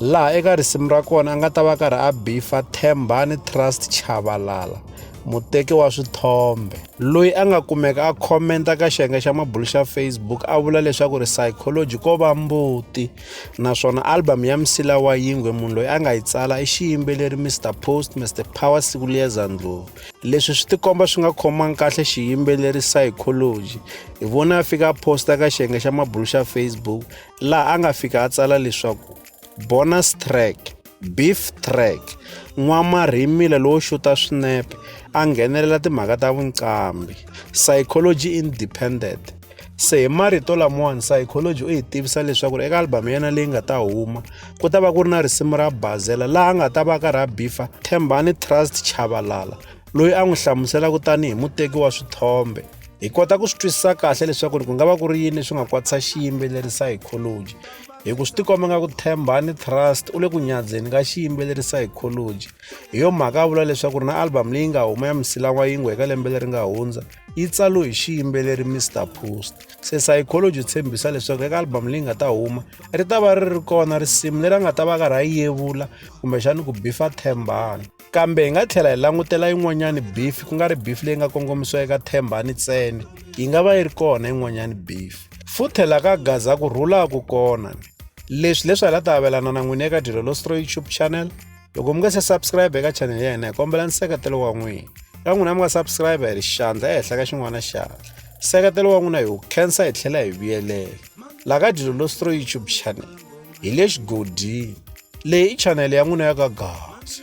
laha eka risimu ra kona a nga ta va karhi a bifa thembani trust chavalala muteki wa swithombe loyi a nga kumeka a khomenta ka xiyenge xa mabulu xa facebook a vula leswaku ri psychology ko va mbuti naswona album ya msila wa yingwe munhu loyi a nga yi tsala i xiyimbeleri mr post mr power siku liyeza ndlovu leswi swi tikomba swi nga khomangi kahle xiyimbeleri psychology hi vona a fika a posta ka xiyenge xa mabulu xa facebook laha a nga fika a tsala leswaku bonus track beef track n'wamarhimila lowo xuta swinepe a nghenelela timhaka ta vuncambi psychology independent se hi marito lamawani psychology u hi tivisa leswaku eka albhamu ya yena leyi nga ta huma ku ta va ku ri na risimu ra bazela laha a nga ta va ka ra bifa thembani trust chavalala loyi a n'wi hlamuselaka tanihi muteki wa swithombe hi kota ku swi twisisa kahle leswaku ri ku nga va ku ri yini swi nga kwatisa xiyimbeleri psychology hi ku swi tikomba nga ku thembani trust u le ku nyadzeni ka xiyimbeleri psychology hi yo mhaka a vula leswaku ri na album leyi nga huma ya misilan'wa yingwe eka lembe leri nga hundza yi tsalo hi xiyimbeleri mr post se psychology tshembisa leswaku eka album leyi nga ta huma ri ta va ri ri kona risimu leri a nga ta va karhi a yevula kumbexani ku bifa thembani kambe hi nga tlhela hi langutela yin'wanyani bifi ku nga ri bifi leyi nga kongomisiwa eka themba ni tsene yi nga va yi ri kona yin'wanyani bifi futhe la ka gaza ku rhula ku kona leswi leswi hala ta avelana na n'wini eka dyelo lostro youtube channel loko mi nga se subscribe eka channel ya hina hi kombela nseketelo wa n'wina ka n'wina mi nga subscribe hi ri xandla ehenhla ka xin'wana xandla nseketelo wa n'wina hi wu khensa hi tlhela hi vuyelela la ka dyelo lostro youtube channel hi le xigodini leyi i chanele ya n'wina ya ka gasi